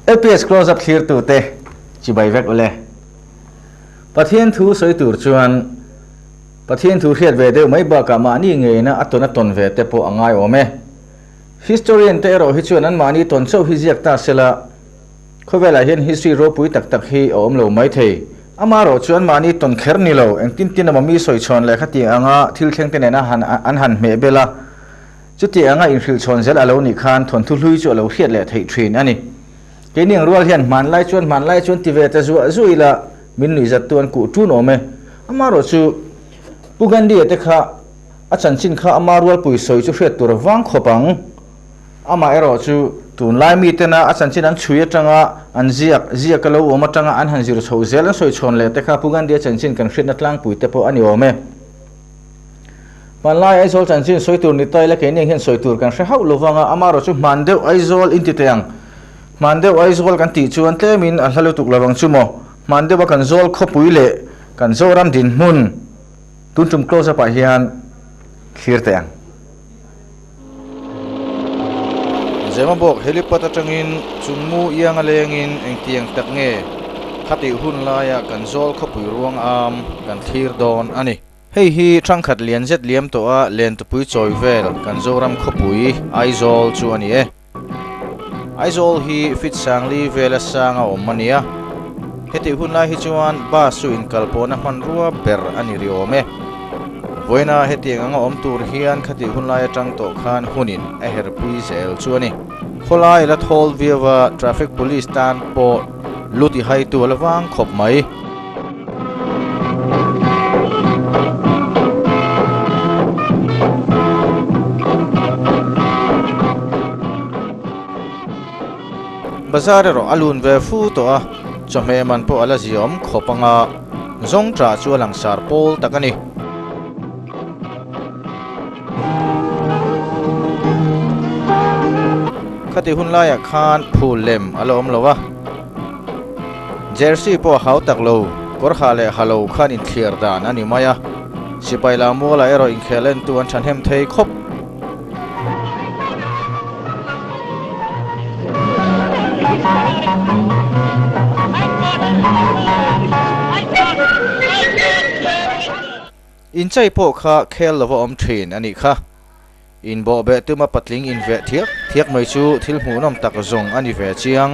Lps closeup thlir tu te chibai vek ule. Pathian thu sawi tur chuan Pathian thu hriat ve deuh mai bakah mahni ngeina a tawn a tawn ve te pawh a ngai awm e. Historian te erawh hi chuan an mahni tawn chauh hi ziak ta sela, khawvelah hian history ropui tak tak hi a awm lo mai thei. Ama rawh chuan mahni tawn kher ni lo, engtin tin a mami sawi chhawn leh khati anga thil thlengte nena han an han hmeh bela Chuti anga inhrilhchhawn zel a lo nih khan thawnthu hlui chu a lo hriat leh theih thin a ni. Keini ang rual hian hmanlai chuan hmanlai chuan ti ve ta zuah zuah ila min nuihzattu an kuh tun awm e. Ama rawh chu Pu Gandhi-a te kha a chanchin kha ama rualpui sawi chu hriat tur a vang khawp ang. Amah erawh chu. Tunlai mitena a chanchin an chhui atanga an ziak ziak a lo awm atanga an han zir chho zel an sawi chhawn leh te kha Pu Gandhi-a chanchin kan hriatna tlangpuite pawh a ni awm e. Hmanlai Aizawl chanchin sawi tur ni taila keini hian sawi tur kan hre hauh lo vang a, ama rawh chu hman deuh Aizawl in ti thei ang. Hman deuh Aizawl kan tih chuan tlemin a hla lutuk lo vang chu maw. Hman deuha kan zawl khawpui leh kan zoram dinhmun Tuntum Close-up-ah hian thlir theih ang. Zema bawk helipat atangin chungmu ianga lengin engtiang tak nge khatih hun laia kan zawl khawpui ruang âwm kan thlir dawn a ni. Hei hi ṭhangkhat lian zet liam tawha lentupui chawi vel kan Zoram khawpui, Aizawl, chu a ni e. Aizawl hi Fitsangli vel asang a awm a nia. Heti hun lai hi chuan bus-u inkal pawhna hmanrua ber a ni ri awm e. Vawiinaa hetiang anga awm tur hian khati hun lai atang tawh khan hunin a herhpui zel chu a ni. Khawlai ila thawl viau a traffic police tan pawh Lu ti hai tu ala vang khawp mai. Bazar erawh a lun ve fu tawh a, chawhmeh man pawh ala ziawm khawp anga zawng tra chu a langsar pawl tak a ni. Khati hun laiah khan phul lem a la awm lo a, jersey pawh a hau tak lo, kawr ha leh ha lo khan inthliar dan a ni mai a, sipai Lamuala erawh inkhel entu an thahnem thei khawp. Inchei pawh kha khel lova awm thin anih kha. Inbawhbeh tuma patling inveh thiak thiak mai chu thil hmuhnawm tak zawng ani ve chiang.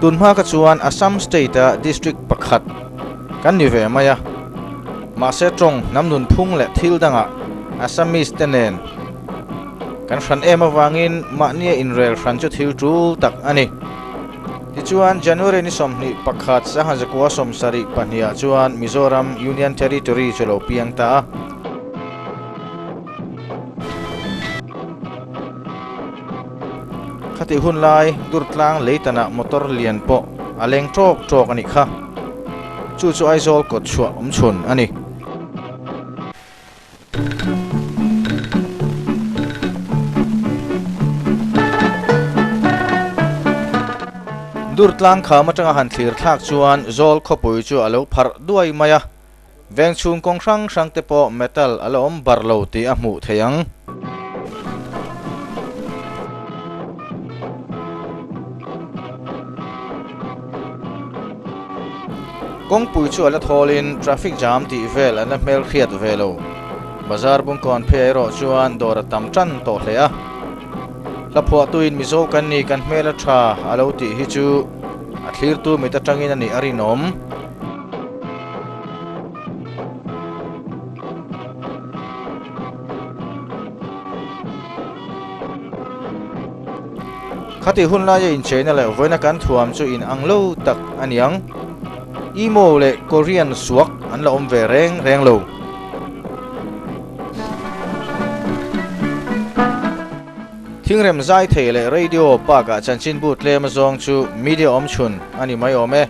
Tun hma kha chuan Assam state a district pakhat kan ni ve mai a, mahse tawng hnam nunphung leh thil dangah Assamese te nen kan hran em avangin mahnia inrel hran chu thil tul tak a ni. Tichuan January ni sawmhnih pakhat sanghazakuaa sawm sarih pahniha chuan Mizoram Union Territory chu lo piang ta a. Khatih hun lai Durtlang lei tanah motor lian pawh a leng tawk tawk a nih kha. Chu chu Aizawl kawt chhuah awm chhun a ni. Durtlang kham atanga han thlir thlak chuan Zawl khawpui chu a lo pharh duai mai a. Veng chhung kawng hrang hrang te pawh metal a la awm bar lo tih a hmuh theih ang. Kawngpui chu a la thawlin traffic jam tih vel an la hmel hriat ve lo. Bazar bungkawn phei erawh chuan dawr a tam ṭan tawh hle a. Hla phuahtuin Mizo kan ni kan hmel a ṭha a lo tih hi chu a thlirtu mit aṭangin a nih a rinawm. khati hun laia incheina leh vawiina kan thuam chu in ang lo tak a ni ang emo leh korean suak an la awm ve reng reng lo thingrem zai thei leh radio park ah chanchinbu tlem azawng chu media awm chhun a ni mai awm e.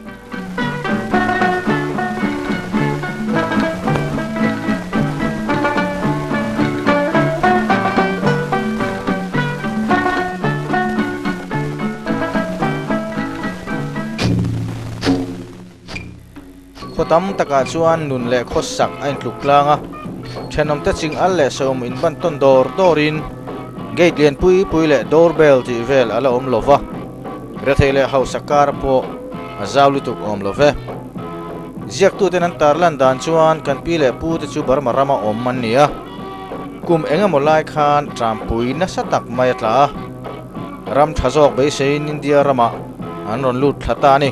Khaw tam takah chuan nun leh khaw sak a intluk tlang a thenawm te ching al leh sawm in ban tawn dawr dawrin gate lian pui pui leh doorbell tih vel a la awm lova. Rethei leh hausa kar pawh a zau lutuk awm lo ve. Ziaktuten an tar lan dan chuan kan pi leh pu te chu Burma ram a awm an ni a, kum eng emaw lai khan ṭanpui nasa tak mai a tla a, ram ṭha zawk beiseiin India ramah an rawn lut thla ta a ni.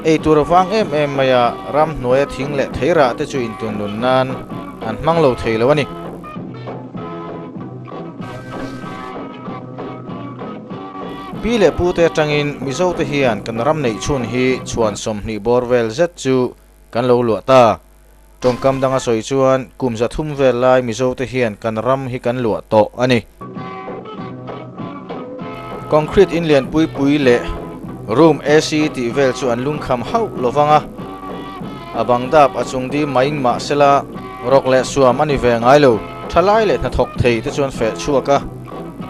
Ei tur a vang em em mai a, ram hnuaia thing leh thei rah te chu intunlun nan an hmang lo thei lo a ni. Pi leh Pu te atangin Mizo te hian kan ram neih chhun hi chhuan sawmhnih bawr vel zet chu kan lo luah ta. Tawngkam danga sawi chuan kum za thum vel lai Mizo te hian kan ram hi kan luah tawh a ni. Concrete in lian pui pui leh room AC tih vel chu an lungkham hauh lo vang a. A bang dap a chung dîm main mahsela, rawk leh suam a ni ve ngai lo. Thalai leh hnathawk thei te chuan feh chhuak a,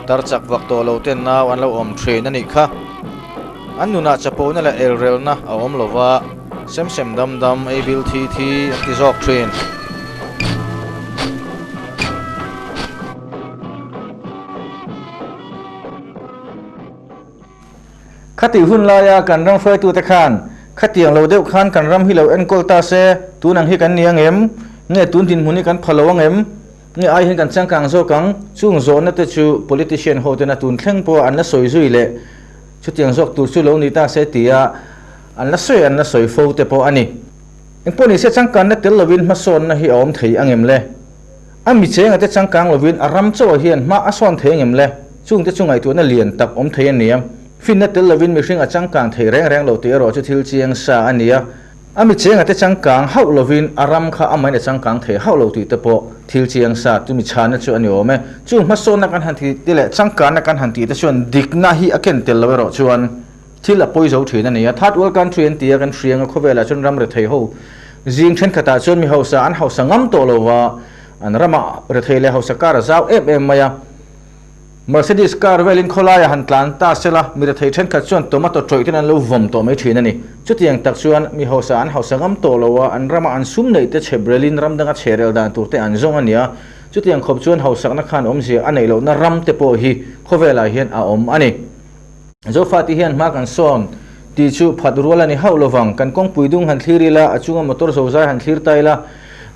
tar chak vak tawh lo ten nau an lo awm ṭhin a nih kha. An nunah chapona leh elrelna a awm lo va, sem sem dam dam, ei bil thi thi an ti zawk ṭhin. Khatih hun laia kan ram hruaitute khan khatiang lo deuh khan kan ram hi lo enkawl ta se, tun ang hi kan ni angem? Nge tun dinhmun hi kan pha lo angem? Nge ai hian kan changkang zawk ang? Chung zawnate chu politician hotena tun thleng pawha an la sawi zui leh chutiang zawk tur chu lo ni ta se tia an la sawi an la sawi fo te pawh a ni. Engpawh ni se changkanna tel lovin hmasawnna hi a awm thei angem le? A mi chenga te changkang lovin a ram chauh ah hian hma a sawn thei angem le? Chungte chu ngaihtuahna lian tak awm thei a nia. Finna tel lovin mihring a changkang thei reng reng lo tih erawh chu thil chiang sa a nia. A mi chenga te changkang hauh lovin a ram kha a main a changkang thei hauh lo tih te pawh thil chiang sa chu mi chhana chu a ni awm e. Chung hma sawnna kan han ti te leh changkana kan han ti te chuan dikna hi a ken tel lo erawh chuan, Thil a pawi zo thin a nia. Third World Country an ti a, kan hrianga khawvelah chuan ram rethei ho zing thenkhatah chuan mi hausa an hausa ngam tawh lo va, an rama rethei leh hausa kar a zau em em mai a. Mercedes kar velin khawlaia han tlan ta se la, mi rethei thenkhat chuan tomato tawihten an lo vawm tawh mai thin a ni. Chutiang tak chuan mi hausa an hausa ngam tawh lo a, an rama an sum neih te chhe brelin ram danga chherel dan tur te an zawng a nia. Chutiang khawp chuan hausakna khan awmzia a neih lohna ram te pawh hi khawvelah hian a awm a ni. Zofa tih hian hma kan sawn tih chu phat rual a ni hauh lovang. Kan kawngpui dung han thlir ila, a chunga motor zozai han thlir ta ila,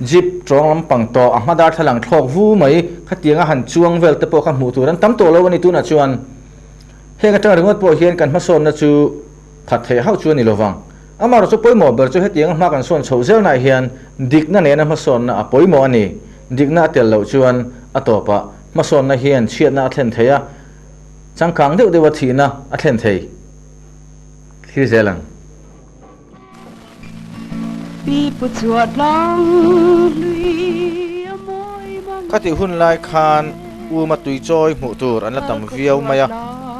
Jeep tawng lampang tawh a hma darthlalang thlawk vu mai, khatianga han chuang vel te pawh kha hmuh tur an tam tawh lo a ni tunah chuan heng atanga ringawt pawh hian kan hma sawnna chu phat theih hauh chu a ni lovang. Amarawh chu pawimawh ber chu hetianga hma kan sawn chhoh zelnah hian dikna nena hma sawnna a pawimawh a ni. Dikna a tel loh chuan a tawpah hma sawnna hian chhiatna a thlen thei a, changkang deuh deuha thihna a thlen thei thlir zel ang. Pi pu chhuah tlang hlui a mawi mang e. Khati hun lai khan Uma tui chawi hmuh tur an la tam viau mai a,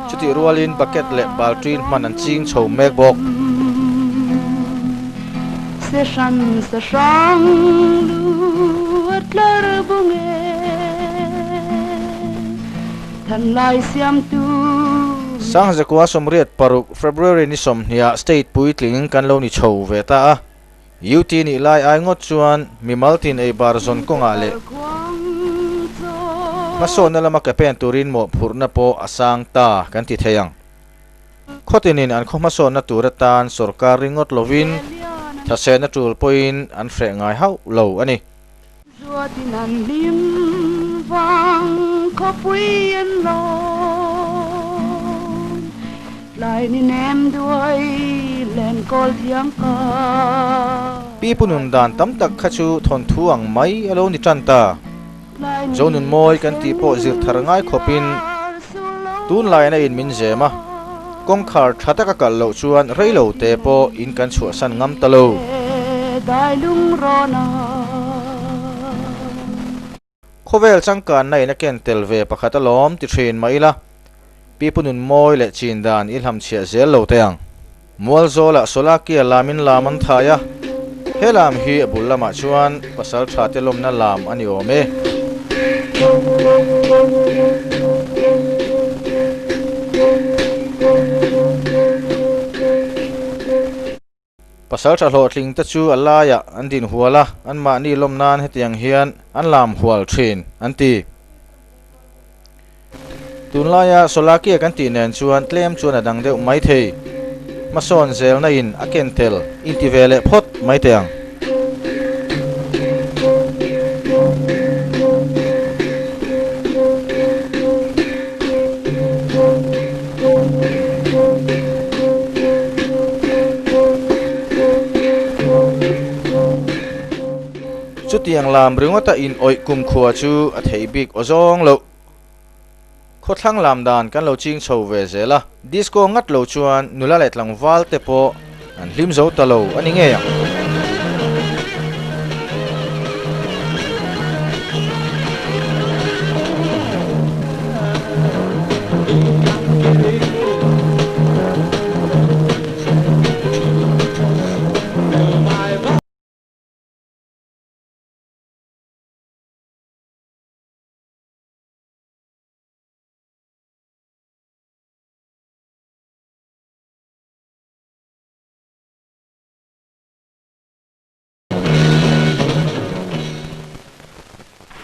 chutih rualin bucket leh baltin hman an ching chho mek bawk. Se hran sa hrang lu a tlar bawk e. Hlanlai siamtu. Sang Zakua Sawmriat paruk February ni sawmhniah state puitlingin kan lo ni chho ve ta a. UT nih lai ai ngawt chuan mimal tin ei bar zawn kawngah leh hmasawtna lama ke pen turin mawhphurhna pawh a sang ta kan ti thei ang. Khawtinin an khawhmasawtna tur atan sorkar ringawt lovin thahsehna tul pawhin an hreh ngai hauh lo a ni. Zuatin an hlim vang khawpui an lawn Tlai ni nem duai len kawl thiang ka. Pi punun dan tam tak kha chu thawnthu ang mai a lo ni tan ta. Zonun mawi kan tih pawh zir thar ngai khawpin tunlaiin a inmin zem a. Kawngkhar tha taka kalh loh chuan reilo te pawh in kan chhuahsan ngam ta lo. Khawvel changkan na in a ken tel ve pakhat a lawm ti thin mah ila, pi pu nun mawi leh chin dan i hlam chhiah zel lo te ang. Mualzawl ah Solakia lam in lam an thai a, he lam hi a bul lam ah chuan, Pasal tha te lawmna lam a ni awm e. Pasal tha hlawhtling te chu a laiah an dinhual a, an mahni lawm nan hetiang hian an lam hual thin, an ti. Tunlaia Solakia kan tih nen chuan tlem chuan a dang deuh maithei. Hmasawn zelna in a ken tel in ti ve leh phawt maithei ang. Chutiang lam ringawta inawih kumkhua chu a thei bik aw zawng loh. Khawthlang lam dan kan lo ching chho ve zel a, disco ngat lo chuan nula leh tlangval te pawh an hlim zo ta lo a ni ngei ang.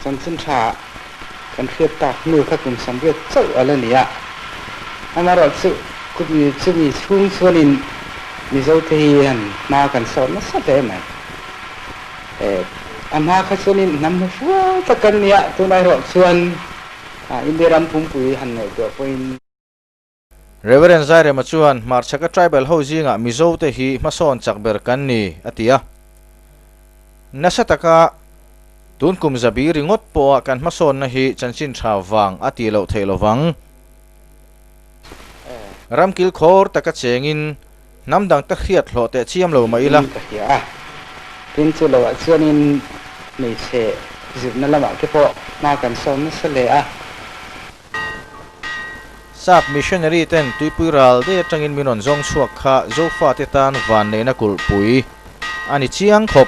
Chanchin tha ah kan hriat tak hnu kha kum sam riat chauh a la ni a, amaherawh chu chumi chumi chhung chuan in Mizote hian hma kan sawt nasa hle mai. A hma kha chuan in hnam hmu fual tak kan nia, tun a erawh chuan India ram pumpui han ngaih tur pawhin. Reverend Zairema chuan Hmarchhaka tribal ho zingah Mizo te hi hmasawn chak ber kan ni a ti a, nasa taka tun kum zabi ringawt pawha kan hmasawnna hi chanchin tha vang a ti loh theih lovang. Ram kilkhawr taka chengin. Hnam dang te hriat hlawh teh chiam lo mah ila. Ring ka hria a, tin chu lo ah chuan in hmeichhe zirna lamah te pawh hma kan sawn nasa leh a. Sap missionary ten tuipui ral dei atang in min rawn zawng chhuak kha Zofa te tan van neih na kulh pui a ni chiang khawp.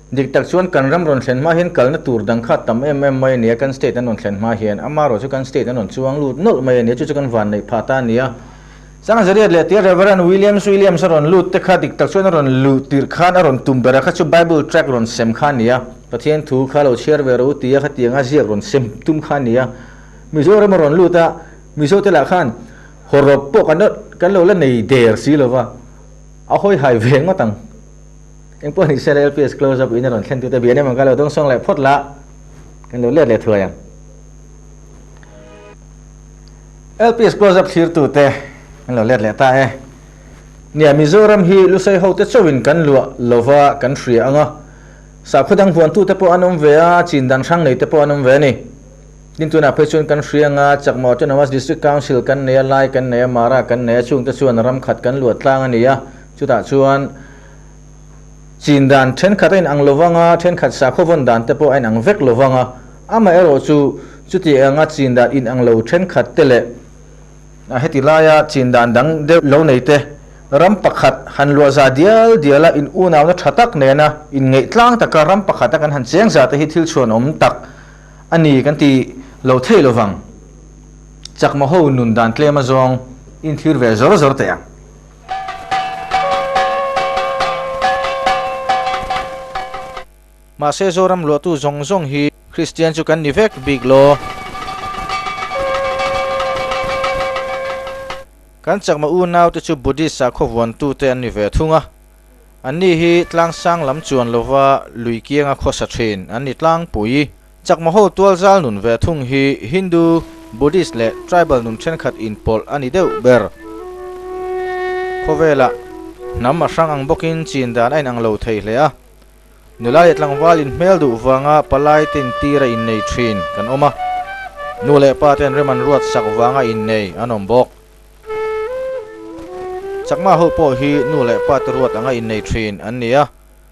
Dik tak chuan kan ram rawn thlen hma hian kalna tur dang kha tam em em mai a nia, kan state an rawn thlen hma hian ama erawh chu kan state an rawn chuang lut nawlh mai a nia, chu chu kan vanneih pha ta a nia. Chang Zariat leh tir Reverend Williams Williams a rawn lut te kha dik tak chuan a rawn luh tirh khan a rawn tum bera kha chu Bible tract rawn sem kha a nia, Pathian thu kha lo chhiar ve ro tia kha tianga ziak rawn sem tum kha a nia. Mizoram a rawn lut a, Mizo te lah khan haw rawp pawh kan lo la nei der si lova, a hawi hai ve ngawt ang. Eng pawh ni se la LPS close up in a rawn thlen tute bia nem ang ka lo dawng sawng leh phawt la kan lo let leh thuai ang. LPS close up thlir tute kan lo let leh ta e. Nia Mizoram hi Lusei ho te chauh in kan luah lova kan hria anga sakhaw dang vuan tute pawh an awm ve a chin dan hrang nei te pawh an awm ve a ni. Tin tunah phei chuan kan hria anga Chakma Autonomous District Council kan nei a Lai kan nei a Mara kan nei a chungte chuan ram khat kan luat tlang a ni a chutah chuan Chin dan thenkhat a inang lo vang a, thenkhat sakhaw vawn dan te pawh a inang vek lo vang a. Amaherawh chu, chuti anga Chin dan inang lo thenkhat te leh heti laia Chin dan dang deuh lo nei te ram pakhat han luahza dial dial a, inunauna tha tak nena inngeihtlâng taka ram pakhata kan han cheng za te hi thil chhuanawm tak a ni kan ti lo thei lo vang. Chakmaho nun dan tlema zawng in thlir ve zawr zawr teh ang. Mahse Zoram luahtu zawng zawng hi Kristian chu kan ni vek bik law kan chakma unaute chu Buddhist-a khawvuantute an ni ve thung a. Anni hi tlangsang lam chuan lova lui kianga khawsa thin an ni tlangpui. Chakmaho tualzal nun ve thung hi Hindu, Buddhist leh Tribal nun thenkhat inpawlh a ni deuh ber. Khawvela hnam a hrang ang bawkin chin dan a inang lo thei hle a. Nula leh tlangval inhmel duh vanga palai te intir a innei thin kan awm a. Nu leh pa ten rem an ruat sak vanga innei an awm bawk. Chakmaho pawh hi nu leh pa te ruat anga innei thin an ni a.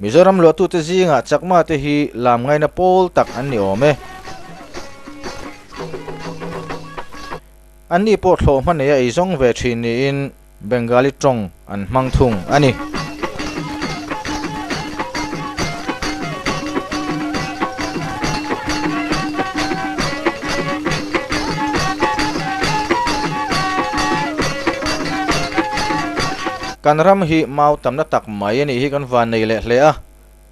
Mizoram luahtute zingah chakmate hi lam ngaina pawl tak an ni awm e. Anni pawh thlawh hma nei a ei zawng ve thin niin Bengali tawng an hmang thung a ni. Kan ram hi mau tamna tak. Mai anih hi kan van nei leh hle a,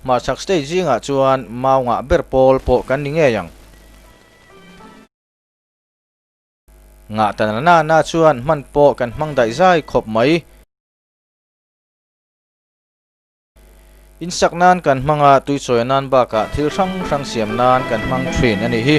hmachhak stage zingah chuan mau ngah ber pawl pawh kan ni ngei ang. Ngahtan a nana chuan hman pawh kan hmang daih zai khawp mai. Insak nan kan hmang a, tuichawih a nan bakah thil hrang hrang siam nan kan hmang thin anih hi.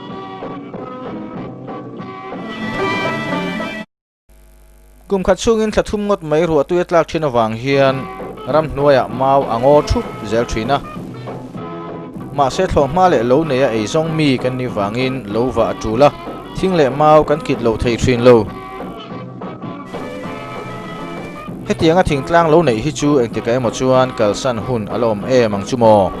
Kum khat chhungin thla thum ngawt mai ruah tuia tlak thin avang hian ram hnuaiah mau a ngaw thup zel thin a. Mahse thlawh hma leh lo neia ei zawng mi kan nih vangin lo vah a tul a, thing leh mau kan kit lo thei thin lo. Hetianga thingtlang lo neih hi chu engtikah emaw chuan kalsan hun a la awm em ang chu maw?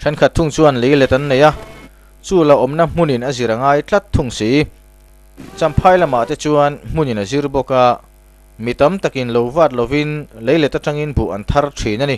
Thenkhat thung chuan lei let an nei a, chu la awmna hmunin a zir a ngai tlat thung si. Champhai lamah te chuan hmunin a zir bawk a, mi tam takin lo vat lovin lei let atangin buh an thar thin a ni.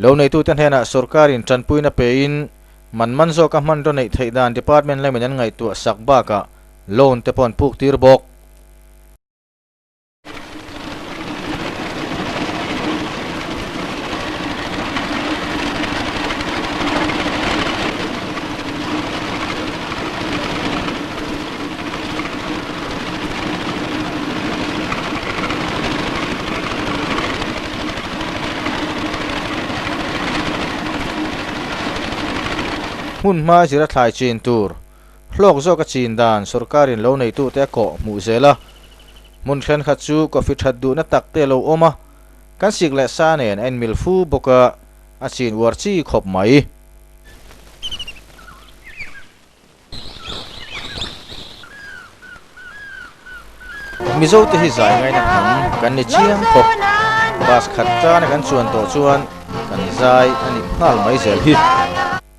Lo neitute hnenah sorkarin tanpuina pein man man zawka hmanraw neih theih dan department laimin an ngaihtuah sak bakah loan te pawh an puktir bawk. Hmun hma zira thlai chin tur. Hlawk zawk a chin dan sorkarin lo neitu te a kawh hmuh zel a, hmun thlen khat chu coffee that duhna tak te lo awm a, kan sik leh sa nen a inmil fu bawk a, a chin uar chi khawp mai. Mizo te hi zai ngaina kham kan ni chiang khawp, bus khat tana kan chuan tawh chuan kan zai a nih nghal mai zel hi.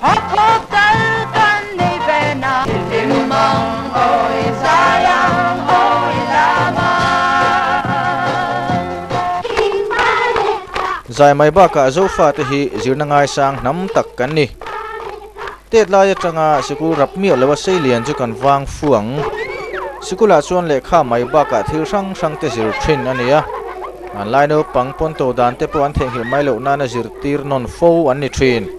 Hakhaw kal kan nei ve na. Limang awi zai ang awi lam a. Thin ba leh ta. Zai mai bakah Zofa te hi zirna ngai sang hnam tak kan ni. Tet lai atanga sikul rap miah loh a sei lian chu kan vang fuang. Sikulah chuan lehkha mai bakah thil hrang hrang te zir thin a nia. Lai naupang pawn to dan te pawh an theihnghilh mai loh nana zirtir nawn fo an ni thin.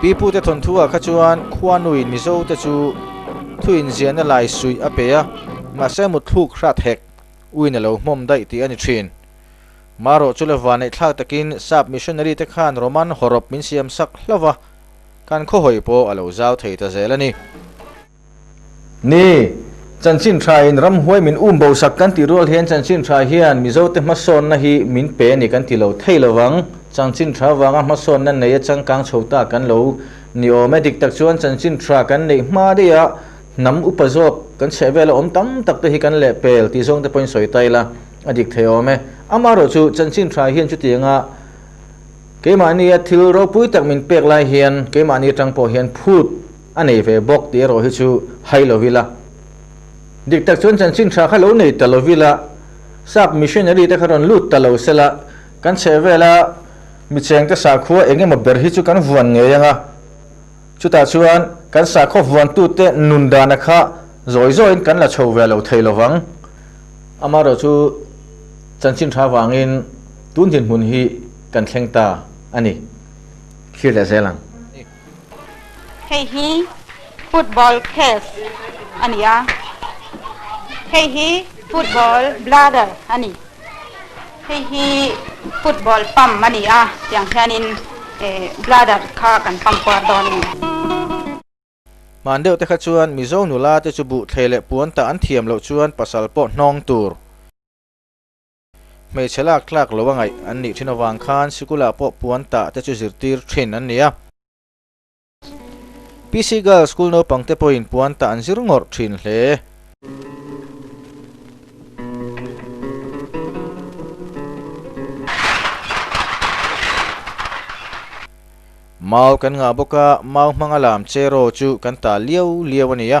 Pipute thawnthuah kha chuan Khuanui Mizote chu thu inziahna lai suih a pe a, mahse mutthluk hrat hek uin a lo hmawm daih tih a ni thin. Marawh chule vaneihthlak takin sap missionary te khan Roman haw rawp min siam sak hlauh a, kan khawhawi pawh a lo zau thei ta zel a ni. Ni, Chanchin Thra in ram huai min um bo sak kan tih rual hian Chanchin Thra hian Mizo te hmasawnna hi min pe a ni kan ti lo thei lo vang. Chanchin Thra vanga hmasawnna nei a changkang chho ta kan lo ni awm e. Dik tak chuan Chanchin Thra kan neih hma daih a hnam upa zawk kan chheh vel a awm tam tak te hi kan leh pel tih zawng te pawhin sawi ta ila a dik thei awm e. Ama rawh chu Chanchin Thra hian chuti anga keimahni a thil ropui tak min pek lai hian keimahni atang pawh hian phut A nei ve bawk tih erawh hi chu hai lo ila. Dik tak chuan chanchin tha kha lo nei ta lo ila, sap missionary te kha rawn lut ta lo sela, kan chheh vela mi chengte sakhua eng emaw ber hi chu kan vuan ngei anga, chutah chuan kan sakhaw vuantute nun dana kha zawi zawin kan la chho ve lo thei lovang. Amaherawh chu chanchin tha vangin tun dinhmun hi kan thleng ta a ni. Thlir leh zel ang. Hei hi football case a ni a, hei hi football bladder a ni, hei hi football pump a ni a, tiang hianin bladder kha kan pump kuar dawn a ni. Hman deuh te kha chuan Mizo nula te chu buh thlei leh puan tah an thiam loh chuan pasal pawh hnawng tur. Hmeichhe lak tlak lo a ngaih an nih thin avang khan sikula pawh puan tah te chu zirtir thin an ni a. PC Girls School naupang te pawhin puan tah an zir ngawrh thin hle. Mau kan ngah bawk a, mau hmanga lam che raw chu kan ta liau liau a ni a.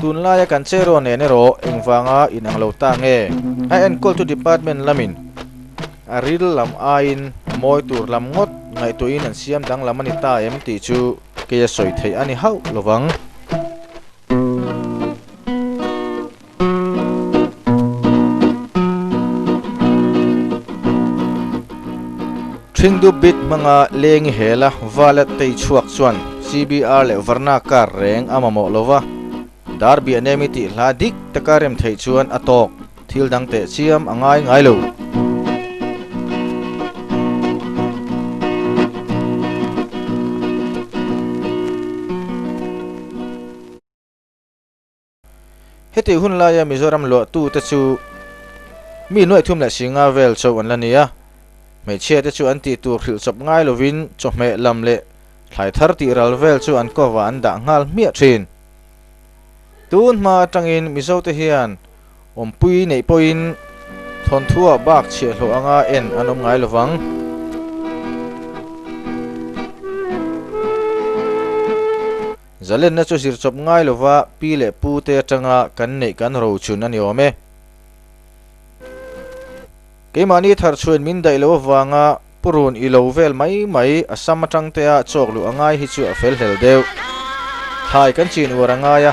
Tun laia kan che rawh nen erawh engvanga in ang lo ta nge? A enkawl chu department lamin a ril lam aiin mawi tur lam ngawt ngaihtuahin an siam danglam a ni ta em tih chu kei a sawi theih a ni hauh lovang. Thindup bit hmanga leng i hel a, Valet te i chhuak chuan CBR leh Varna car reng a mamawh lo va, dar biah nem i tih hla dik taka rem theih chuan a tawk, thil dang teh chiam a ngai ngai lo. Heti hun laia Mizoram luahtu te chu mi nuaihthum leh si nga vel cho an la ni a. Hmeichhia te chu an tih tur hrilh chawp ngai lovin chawhmeh lam leh thlai thar tih ral vel chu an cover ah an dah nghal hmiah thin. Tun hma atangin Mizo te hian awmpui neih pawhin thawnthuah bak chhiah hlawh anga en an awm ngai lovang. Zalenna chu zir chawp ngai lova pi leh pu te atanga kan neih kan ro chhun a ni awm e. Keimahni thar chhuain min daih loh avanga Pu Run i lo vel mai mai a sam atang tea chawk luh a ngai hi chu a fel hlel deuh. Thlai kan chin uar a ngai a.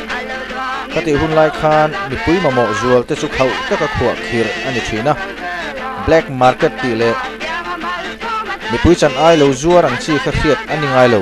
Ka tih hun lai khan mipui mamawh zual te chu khauh taka khuah khir a ni thin a. Black market tih leh mipui chan ai lo zuar ang chi kha hriat a ni ngai lo.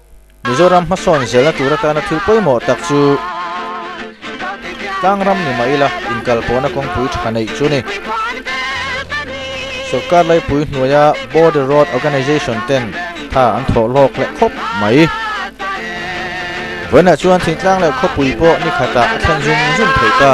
Mizoram hmasawn zelna tur atana thil pawimawh tak chu tlang ram ni mah ila inkalpawhna kawngpui tha neih chu ni. Sawrkar laipui hnuaia Border Road Organisation ten tha an thawh lawk leh khawp mai. Vawiinah chuan thingtlang leh khawpui pawh nikhatah a thlen zum zum thei ta.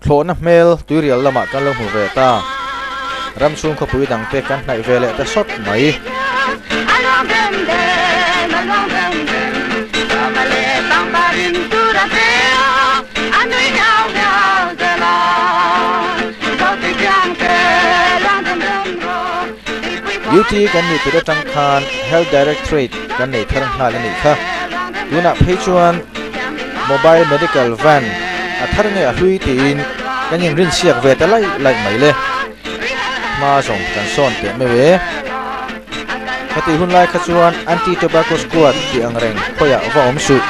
Thlawhna hmel tuirial lamah kan lo hmu ve ta. Ram chhung khawpui dang te kan hnaih ve leh ta sawt mai. Duty kan nih put atang khan Health Directorate kan nei thar nghal a nih kha. Tunah phei chuan Mobile Medical Van a thar nge a hlui tiin kan inrinsiak ve ta laih laih mai le. Hma zawng kan sawn teh meuh e. Heti hun lai kha chuan Anti Tobacco Squad tih ang reng khawiah va awm suh.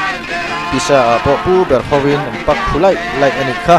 Pisa ah pawh pu ber hovin an pak phu laih laih a nih kha.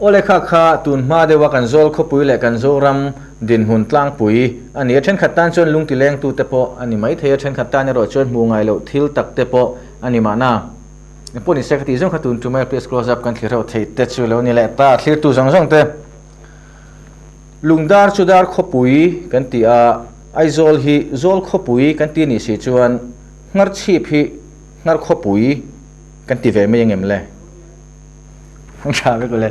Aw le kha kha, tun hma deuha kan zawl khawpui leh kan Zoram dinhmun tlangpui a ni a, thenkhat tan chuan lungti lengtute pawh a ni maithei a, thenkhat tan erawh chuan hmuh ngai loh thil takte pawh a ni mahna, eng pawh ni se ka tih zawng kha tun tumah ila please close up kan thlir ho thei te chu lo ni leh ta, thlirtu zawng zawng te lungdar chu dar khawpui kan ti a, Aizawl hi zawl khawpui kan ti a nih si chuan, Hngarchhip hi hngar khawpui. Kan ti ve mai angem le? Hmang tha vek le.